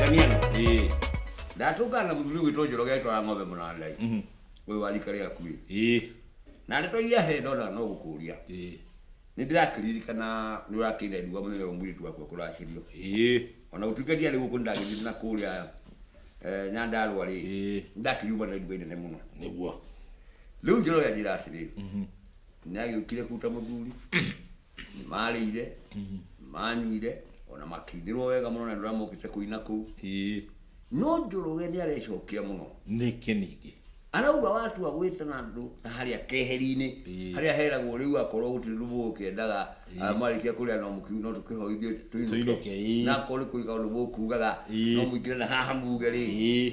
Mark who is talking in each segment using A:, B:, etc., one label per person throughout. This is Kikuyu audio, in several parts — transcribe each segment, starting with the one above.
A: Damiano, Eh, ndatũngana mũthuri gwitũ njoro getwara ng'ombe mũnandai mhm, ũyũ warika rĩa kuĩ eh, na ndeto iria he ndona no gũkũria eh, nĩ ndĩrakĩririkana nĩ ũrakĩire nduga mũnene wa mũirĩtu wakwa kũracirio eh, ona gũtuĩka ndiarĩ gũkũ nĩ ndagĩthire na kũrĩa eh, nyandarũa rĩ eh, ndakĩriuma na nduga inene mũno nĩguo
B: rĩu njoro
A: yanjĩra atĩrĩ nĩ agĩũkire kũruta mũthuri nĩ marĩire nĩ manyuire ona makĩinĩrwo wega mũno na nĩ ũramokĩte kũina kũu ĩĩ no njoroge nĩ arecokia mũno nĩkĩ ningĩ
B: arauga watua
A: gwĩtana andũ na harĩa keheri-inĩ Ĩĩ. harĩa heragwo rĩu akorwo gũtirĩ ũndũ mũgũkĩendaga ah, marĩkia kũrĩa no mũkiu no tũkĩhoe ithuĩ Tũinũke, tũinũke ĩĩ. na akorwo nĩ kũiga ũndũ mũkugaga Ĩĩ. no mũingĩre na haha muge rĩ ĩĩ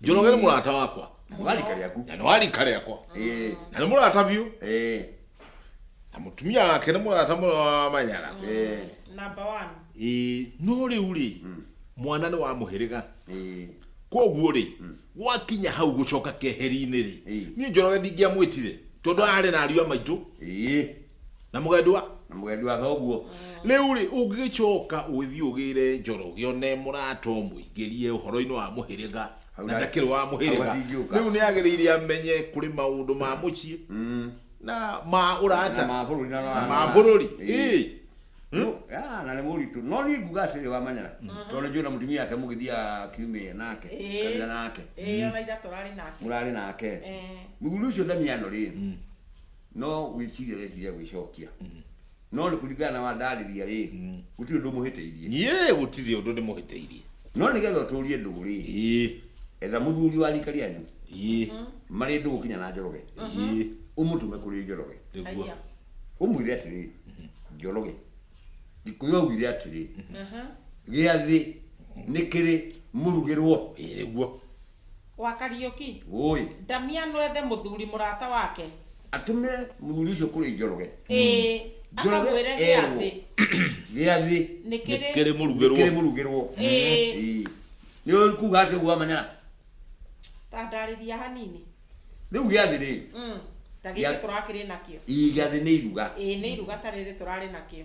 B: njologere mulata wakwa Walikali yaku.
A: na niwalikale yakwa
B: Eh. na nimulata biu Eh. na mutumia wake nimulata mulwa manyala Eh.
C: Number one. Eh, no riu ri
B: mwana ni wa muhiriga Eh. koguo ri gwakinya hau gucoka keheri-inĩ ri Eh. niĩ njoroge ndingĩamwĩtire tondũ arĩ na ariũ a maitũ Eh. na mugendwa na mugendu wa thoguo
A: riu ri
B: ungigicoka ugithi ugire njoroge one murata umuingirie uhoro-ini wa muhiriga Hau na na- ndakiri wa hau muhiriga atingĩũka. riu ni agirire amenye kuri maundu ma mucii Mm. na ma na urata ma bũrũri na na ma bururi Ĩĩ. No, ah,
A: na nĩ mũritũ no niĩ nguga atĩrĩ wamanyara tondũ nĩ njũĩ na mũtumia wake mũgĩthiaga kiumia nake Ĩĩ. kabira nake ĩĩ ona ithatũ rarĩ
C: nake mũrarĩ nake
A: Eh. mũthuri ũcio ndamiano rĩ no wĩciria ũreciria gwĩcokia no nĩ kũringana na wandarĩria rĩ gũtirĩ ũndũ mũhĩtĩirie niĩ gũtirĩ ũndũ nĩ
B: mũhĩtĩirie no nĩ getha
A: ũtũrie ndũgũ rĩ ĩĩ etha mũthuri wa rika rĩanyu ĩĩ marĩ ndũgũ kinya na njoroge ĩĩ ũmũtũme kũrĩ njoroge nĩguo Aya. ũmwĩre atĩrĩ njoroge gĩkũyũ augire atĩrĩ gĩathĩ nĩ kĩrĩ mũrugĩrwo ĩĩ nĩguo
C: Wa Kariũki. Wũi. Ndamia
A: nwethe
C: mũthuri mũrata wake. Atũme
A: mũthuri ũcio kũrĩ Njoroge. Ĩĩ. Njoroge
C: Akamwĩre erwo,
A: gĩathĩ. Gĩathĩ. Nĩ kĩrĩ. Nĩkĩrĩ
B: mũrugĩrwo. Nĩkĩrĩ mũrugĩrwo. Ĩĩ. Ĩĩ.
A: Nĩũĩ kuga atĩa ũguo wamanyara? Ta
C: ndarĩria hanini. Rĩu gĩathĩ
A: rĩ. Mm. Ta gĩkĩ Gĩa-
C: tũrakĩrĩ nakĩo. Ĩĩ gĩathĩ nĩ iruga.
A: Ĩĩ nĩ iruga ta rĩrĩ
C: tũrarĩ nakĩo.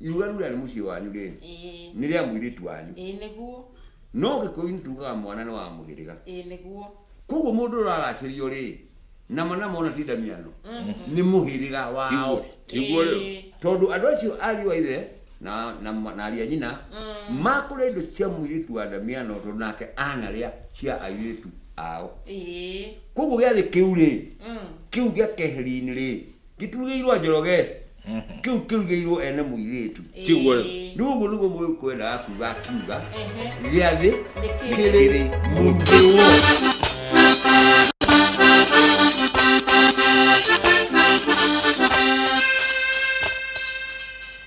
A: irura rurarĩ mũciĩ wanyu rĩ ĩĩ nĩ rĩa mũirĩtu wanyu ĩĩ
C: nĩguo no gĩkũyũ
A: nĩ tugaga mwana nĩ wa mũhĩrĩga ĩĩ nĩguo
C: koguo mũndũ ũrĩa
A: ũraracĩrio rĩ nama nama ona ti ndamiano nĩ mũhĩrĩga wao Tiguo- tiguo rĩu Ĩĩ.
B: tondũ andũ acio
A: ariũ a ithe na na ma- na ariũ a nyina makũrĩa indo cia mũirĩtu wa ndamiano tondũ nake anarĩa cia airĩtu ao ĩĩ koguo gĩathĩ kĩu rĩ Mm. kĩu gĩa keheri-inĩ rĩ gĩturugĩirwo njoroge kĩu kĩrugĩirwo ene mũirĩtu Kĩguo rĩ? Ĩĩ.
B: rĩu ũguo nĩguo
A: mũkwendaga kuga akiuga Ehe. gĩa thĩ Nĩkĩ? kĩrĩ mũndĩwo